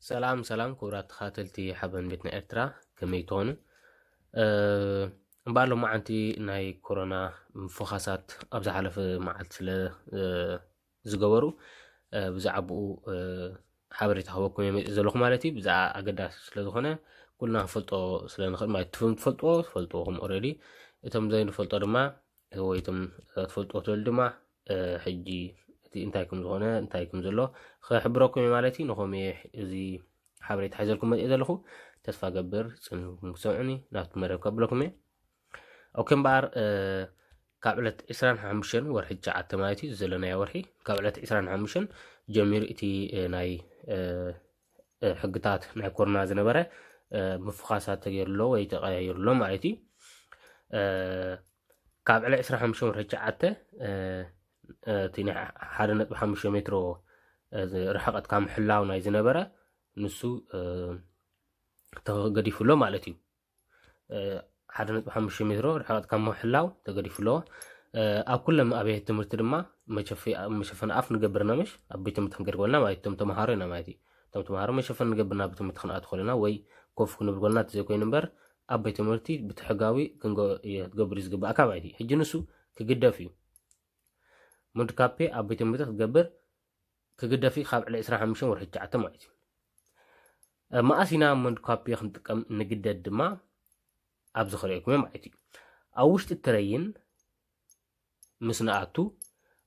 ሰላም ሰላም ክቡራት ተኻተልቲ ሓበን ቤት ናይ ኤርትራ ከመይ ትኾኑ እምበኣር ሎማዓንቲ ናይ ኮሮና ፎኻሳት ኣብ ዝሓለፈ መዓልቲ ስለ ዝገበሩ ብዛዕባኡ ሓበሬታ ክበኩም እየ መፂእ ዘለኹ ማለት እዩ ብዛዕባ ኣገዳሲ ስለዝኾነ ኩልና ክንፈልጦ ስለንኽእል ማለት ትፍም ትፈልጥዎ ትፈልጥዎኹም ኦረዲ እቶም ዘይንፈልጦ ድማ ወይ እቶም ትፈልጥዎ ትበል ድማ ሕጂ እቲ እንታይ ከም ዝኾነ እንታይ ከም ዘሎ ክሕብረኩም እዩ ማለት እዩ ንኹም እየ እዚ ሓበሬታ ሓዘልኩም መፅእ ዘለኹ ተስፋ ገብር ፅን ክሰምዑኒ ናብቲ መደብ ከብለኩም እየ ኦኬ እምበኣር ካብ ዕለት 25 ወርሒ ትሽዓተ ማለት እዩ ዘለናዮ ወርሒ ካብ ዕለት 25 ጀሚሩ እቲ ናይ ሕግታት ናይ ኮሮና ዝነበረ ምፍኻሳት ተገይሩሎ ወይ ተቀያይሩሎ ማለት እዩ ካብ ዕለ 25 ወርሒ ትሽዓተ እቲ ናይ ሓደ ነጥቢ ሓሙሽተ ሜትሮ ርሕቐት ካብ ምሕላው ናይ ዝነበረ ንሱ ተገዲፉሎ ማለት እዩ ሓደ ነጥቢ ሓሙሽተ ሜትሮ ርሕቐት ካብ ምሕላው ተገዲፉ ኣሎ። ኣብ ኩሎም ኣብያተ ትምህርቲ ድማ መሸፈኒ ኣፍ ንገብር ኢና ምሽ ኣብ ቤት ትምህርቲ ክንገድ ኮለና ማለት እቶም ተምሃሮ ኢና ማለት እዩ እቶም ተምሃሮ መሸፈኒ ንገብር ናብ ቤት ትምህርቲ ክንኣቱ ኮለና ወይ ኮፍ ክንብል ኮለና ተዘይኮይኑ እምበር ኣብ ቤት ትምህርቲ ብትሕጋዊ ክትገብር እዩ ዝግባእካ ማለት እዩ ሕጂ ንሱ ክግደፍ እዩ ሙድካፔ ኣብ ቤት ትምህርቲ ክትገብር ክግደፍ እዩ ካብ ዕለ ዕስራን ሓሙሽተን ወርሒ ትሽዓተ ማለት እዩ። መኣስ ኢና መንድኳፔ ክንጥቀም ንግደድ ድማ ኣብዚ ክርእየኩም እየ ማለት እዩ። ኣብ ውሽጢ ትረይን ምስ ንኣቱ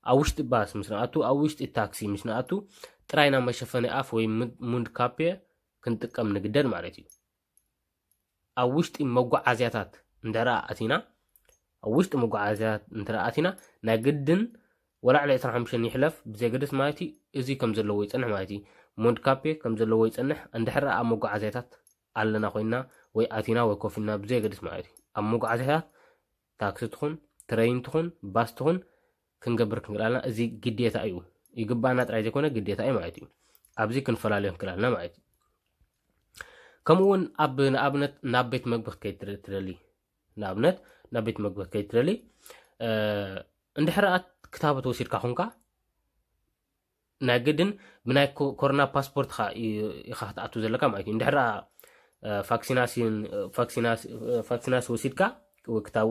ኣብ ውሽጢ ባስ ምስ ንኣቱ ኣብ ውሽጢ ታክሲ ምስ ንኣቱ ጥራይና መሸፈኒ ኣፍ ወይ ሙንድ ካፔ ክንጥቀም ንግደድ ማለት እዩ ኣብ ውሽጢ መጓዓዝያታት እንድሕር ኣቲና ኣብ ውሽጢ መጓዓዝያታት እንድሕር ኣቲና ናይ ግድን ወላ ዕለ 25 ይሕለፍ ብዘገደስ ማለት እዩ እዚ ከም ዘለዎ ይጸንሕ ማለት እዩ ሞንድካፔ ከም ዘለዎ ይጸንሕ እንድሕር ኣብ መጓዓዝያታት ኣለና ኮይና ወይ ኣቲና ወይ ኮፊና ብዘገደስ ማለት እዩ ኣብ መጓዓዝያታት ታክሲ ትኹን ትረይን ትኹን ባስ ትኹን ክንገብር ክንክእል ኣለና እዚ ግዴታ እዩ ይግባኣና ጥራይ ዘይኮነ ግዴታ እዩ ማለት እዩ ኣብዚ ክንፈላለዮ ክንክእል ኣለና ማለት እዩ ከምኡ እውን ኣብ ንኣብነት ናብ ቤት መግቢ ክትከይድ ትደሊ ንኣብነት ናብ ቤት መግቢ ክትከይድ ትደሊ እንድሕርኣ ክታበት ወሲድካ ኹንካ ናይ ግድን ብናይ ኮሮና ፓስፖርትካ ኢካ ክትኣቱ ዘለካ ማለት እዩ እንድሕር ፋክሲናሲ ወሲድካ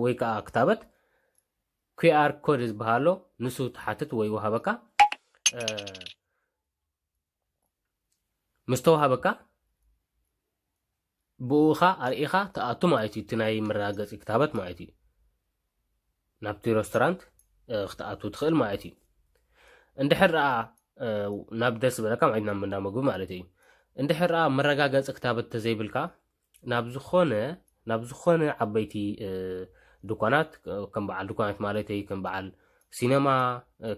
ወይ ከዓ ክታበት ኩኣር ኮድ ዝበሃሎ ንሱ ትሓትት ወይ ወሃበካ ምስተዋሃበካ ብኡኻ ኣርኢኻ ትኣቱ ማለት እዩ እቲ ናይ መረጋገፂ ክታበት ማለት እዩ ናብቲ ረስቶራንት ክትኣቱ ትኽእል ማለት እዩ እንድሕር ኣ ናብ ደስ ዝበለካ ማለት ናብ እንዳ ምግቢ ማለት እዩ እንድሕር ኣ መረጋገፂ ክታበት ተዘይብልካ ናብ ዝኾነ ናብ ዝኾነ ዓበይቲ ድኳናት ከም በዓል ድኳናት ማለተይ ከም በዓል ሲነማ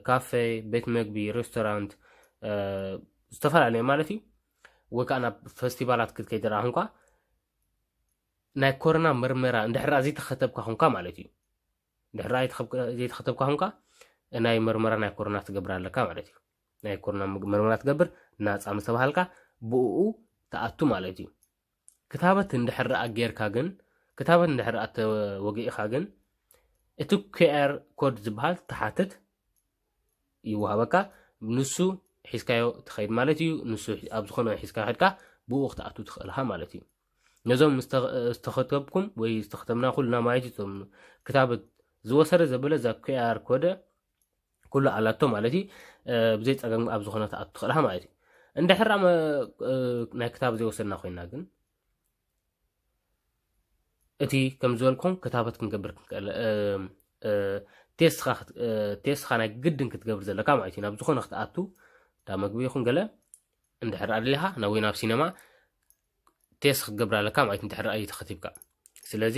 ካፌ ቤት መግቢ ሬስቶራንት ዝተፈላለዩ ማለት እዩ ወይ ከዓ ናብ ፈስቲቫላት ክትከይድ ረኣ ኹንኳ ናይ ኮሮና መርመራ እንድሕራ ዘይተኸተብካ ኹንካ ማለት እዩ እንድሕራ ዘይተኸተብካ ኹንካ ናይ መርመራ ናይ ኮሮና ትገብር ኣለካ ማለት እዩ ናይ ኮሮና መርመራ ትገብር ናፃ ምስተባሃልካ ብኡ ተኣቱ ማለት እዩ ክታበት እንድሕር ደኣ ጌርካ ግን ክታበት እንድሕር ደኣ ተወጊእኻ ግን እቲ ኪኣር ኮድ ዝበሃል ትሓትት ይወሃበካ ንሱ ሒዝካዮ ትኸይድ ማለት እዩ ንሱ ኣብ ዝኾነ ሒዝካ ከድካ ብኡ ክትኣቱ ትኽእልኻ ማለት እዩ ነዞም ዝተኸተብኩም ወይ ዝተኸተብና ኩልና ማለት እዩ ክታበት ዝወሰደ ዘበለ እዛ ኩኣር ኮደ ኩሉ ኣላቶ ማለት እዩ ብዘይ ፀገም ኣብ ዝኾነ ትኣቱ ትኽእልሃ ማለት እዩ እንድሕር ናይ ክታብ ዘይወሰድና ኮይና ግን እቲ ከም ዝበልኩም ክታበት ክንገብር ክንክእል ቴስትኻ ናይ ግድን ክትገብር ዘለካ ማለት እዩ ናብ ዝኾነ ክትኣቱ እንዳ መግቢ ይኹን ገለ እንድሕር ኣድልኻ ናብ ወይ ናብ ሲነማ ቴስት ክትገብር ኣለካ ማለት እንድሕር ኣዩ ተኸቲብካ ስለዚ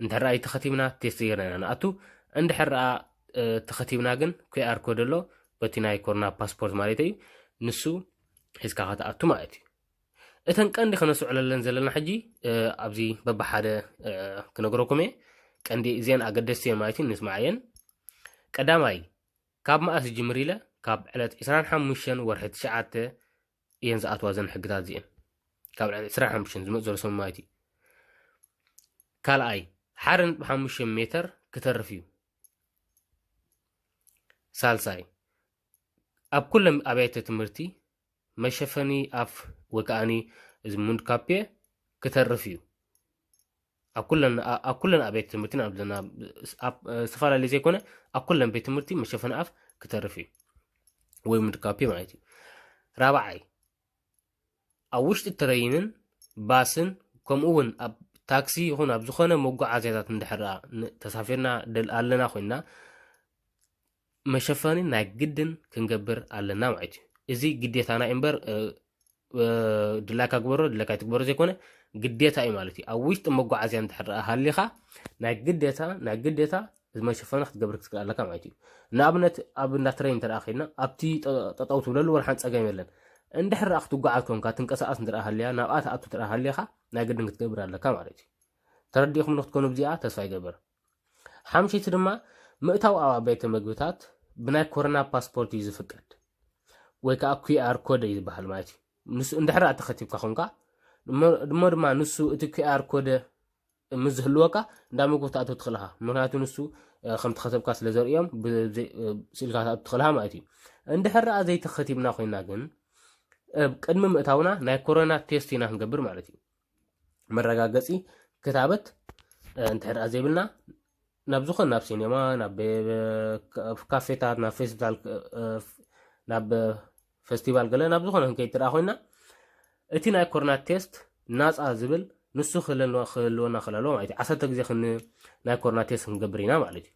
እንድሕር ኣዩ ተኸቲብና ቴስት ጌርና ኢና ንኣቱ እንድሕር ኣ ተኸቲብና ግን ኩኣር ኮድ ኣሎ በቲ ናይ ኮሮና ፓስፖርት ማለት እዩ ንሱ ሒዝካ ከተኣቱ ማለት እዩ እተን ቀንዲ ከነስዕለለን ዘለና ሕጂ ኣብዚ በብሓደ ክነገረኩም እየ ቀንዲ እዚአን ኣገደስቲ እየን ማለት እዩ ንስማዕ እየን ቀዳማይ ካብ መኣስ ጅምር ኢለ ካብ ዕለት 25 ወርሒ ትሽዓተ እየን ዝኣትዋ ዘን ሕግታት እዚኤን ካብ ዕን ዕስራ ሓሙሽተን ዝመፅ ዘሎ ስምማይት እዩ ካልኣይ ሓደ ነጥቢ ሓሙሽተ ሜተር ክተርፍ እዩ ሳልሳይ ኣብ ኩሎም ኣብያተ ትምህርቲ መሸፈኒ ኣፍ ወይ ከዓኒ እዚ ሙንድካፔ ክተርፍ እዩ ኣብ ኩለን ኣ- ኣብ ኩለን ኣብያተ ትምህርቲን ኣብ ዘና ኣብ ዝተፈላለዩ ዘይኮነ ኣብ ኩለን ቤት ትምህርቲ መሸፈኒ ኣፍ ክተርፍ እዩ ወይ ምድካፒ ማለት እዩ ራብዓይ ኣብ ውሽጢ ትረይንን ባስን ከምኡ እውን ኣብ ታክሲ ይኹን ኣብ ዝኾነ መጓዓዝያታት እንድሕር ን- ተሳፊርና ደል ኣለና ኮይንና መሸፈኒ ናይ ግድን ክንገብር ኣለና ማለት እዩ እዚ ግዴታና እዩ እምበር ድላይካ ግበሮ ድላይካ ትግበሮ ዘይኮነ ግዴታ እዩ ማለት እዩ ኣብ ውሽጢ መጓዓዝያ እንድሕር ሃሊኻ ናይ ግዴታ ናይ ግዴታ መሸፈኒ ክትገብር ክትክእል ኣለካ ማለት እዩ ንኣብነት ኣብ እንዳ ትረይ እንተ ኮይና ኣብቲ ጠጠው ትብለሉ ወልሓን ፀገም የለን እንድሕር ኣ ክትጓዓዝ ኮንካ ትንቀሳቐስ እንተ ሃልያ ናብኣ ትኣቱ እንተ ሃሊኻ ናይ ግድን ክትገብር ኣለካ ማለት እዩ ተረዲእኹም ንክትኮኑ ብዚኣ ተስፋ ይገብር ሓምሽይቲ ድማ ምእታው ኣብ ኣቤተ መግብታት ብናይ ኮረና ፓስፖርት እዩ ዝፍቀድ ወይ ከዓ ኩኣር ኮደ እዩ ዝበሃል ማለት እዩ ንሱ እንድሕር ኣተኸቲብካ ኮንካ ድሞ ድማ ንሱ እቲ ኩኣር ኮደ ምስ ዝህልወካ እንዳ ምግቢ ክትኣትው ትኽእል ኢኻ ምክንያቱ ንሱ ከም ተኸተብካ ስለ ዘርእዮም ስኢልካ ክትኣትው ትኽእል ኢኻ ማለት እዩ እንድሕር ኣ ዘይተኸቲብና ኮይና ግን ቅድሚ ምእታውና ናይ ኮሮና ቴስት ኢና ክንገብር ማለት እዩ መረጋገፂ ክታበት እንድሕር ደኣ ዘይብልና ናብ ዝኾነ ናብ ሲኔማ ናብ ካፌታት ናብ ፌስቲቫል ናብ ፌስቲቫል ገለ ናብ ዝኾነ ክንከይድ እንተ ደኣ ኮይና እቲ ናይ ኮሮና ቴስት ናፃ ዝብል ንሱ ክህልወና ክህልወና ክለሎ ማለት እዩ ዓሰርተ ግዜ ክን ናይ ኮሮና ቴስት ክንገብር ኢና ማለት እዩ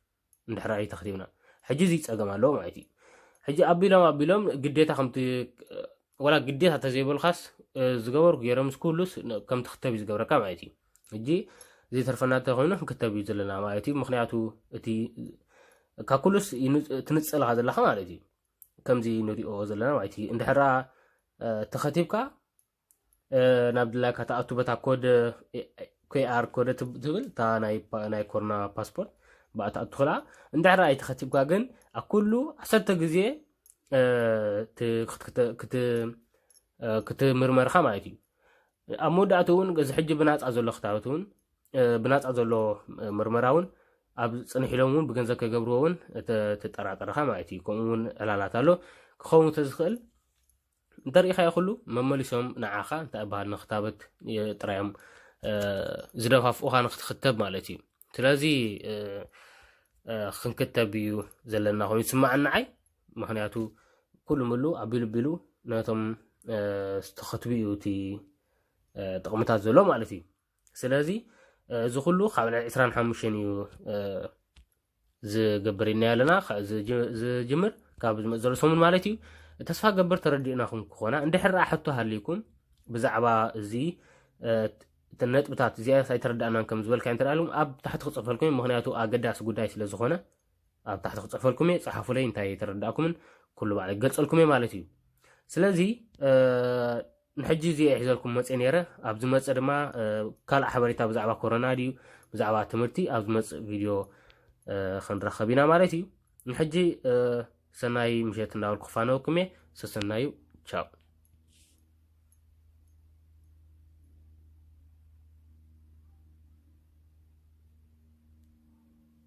እንድሕር ኣይተኽቲብና ሕጂ እዚ ፀገም ኣለዎ ማለት እዩ ሕጂ ኣቢሎም ኣቢሎም ግዴታ ከምቲ ወላ ግዴታ ተዘይበልካስ ዝገበርኩ ገይሮም ምስ ኩሉስ ከምቲ ክተብ እዩ ዝገብረካ ማለት እዩ ሕጂ ዘይተርፈና እንተኮይኑ ክንክተብ እዩ ዘለና ማለት እዩ ምክንያቱ እቲ ካብ ኩሉስ ትንፅልካ ዘለካ ማለት እዩ ከምዚ ንሪኦ ዘለና ማለት እዩ እንድሕራ ተኸቲብካ ናብ ድላይካ ትኣቱ በታ ኮድ ኬኣር ኮደ ትብል እታ ናይ ኮሮና ፓስፖርት ብኣ ትኣቱ ክላ እንድሕር ኣይተኸቲብካ ግን ኣብ ኩሉ ዓሰርተ ግዜ ክትምርመርካ ማለት እዩ ኣብ መወዳእቱ እውን እዚ ሕጂ ብናፃ ዘሎ ክታበት እውን ብናፃ ዘሎ ምርመራ እውን ኣብ ፅንሕ ኢሎም እውን ብገንዘብ ከይገብርዎ እውን ተጠራጠረካ ማለት እዩ ከምኡ እውን ዕላላት ኣሎ ክኸውን ተዝኽእል እንተሪኢኻዮ ኩሉ መመሊሶም ንዓኻ እንታይ ይበሃል ንክታበት ጥራዮም ዝደፋፍኡኻ ንክትኽተብ ማለት እዩ ስለዚ ክንክተብ እዩ ዘለና ኮይኑ ይስማዓኒ ንዓይ ምክንያቱ ኩሉ ምሉ ኣቢሉ ቢሉ ነቶም ዝተኸትቡ እዩ እቲ ጥቕምታት ዘሎ ማለት እዩ ስለዚ እዚ ኩሉ ካብ ናይ ዕስራን ሓሙሽተን እዩ ዝገብር ኢልና ኣለና ዝጅምር ካብ ዝመፅ ዘሎ ሰሙን ማለት እዩ ተስፋ ገበር ተረዲእናኹም ክኾና እንድሕር ኣ ሕቶ ሃልይኩም ብዛዕባ እዚ ነጥብታት እዚኣ ኣይተረዳእናን ከም ዝበልካ እንተደኣልኩም ኣብ ታሕቲ ክፅፈልኩም ምክንያቱ ኣገዳሲ ጉዳይ ስለ ዝኾነ ኣብ ታሕቲ ክፅሕፈልኩም እየ ፀሓፉለይ እንታይ ኣይተረዳእኩምን ኩሉ ባዕለ ክገልፀልኩም እየ ማለት እዩ ስለዚ ንሕጂ እዚ ሒዘልኩም መፅእ ነይረ ኣብ ዝመፅእ ድማ ካልእ ሓበሬታ ብዛዕባ ኮሮና ድዩ ብዛዕባ ትምህርቲ ኣብ ዝመፅእ ቪድዮ ክንራኸብ ኢና ማለት እዩ ንሕጂ ሰናይ ምሸት እንዳበል ክፋነወኩም እየ ሰሰናዩ ቻው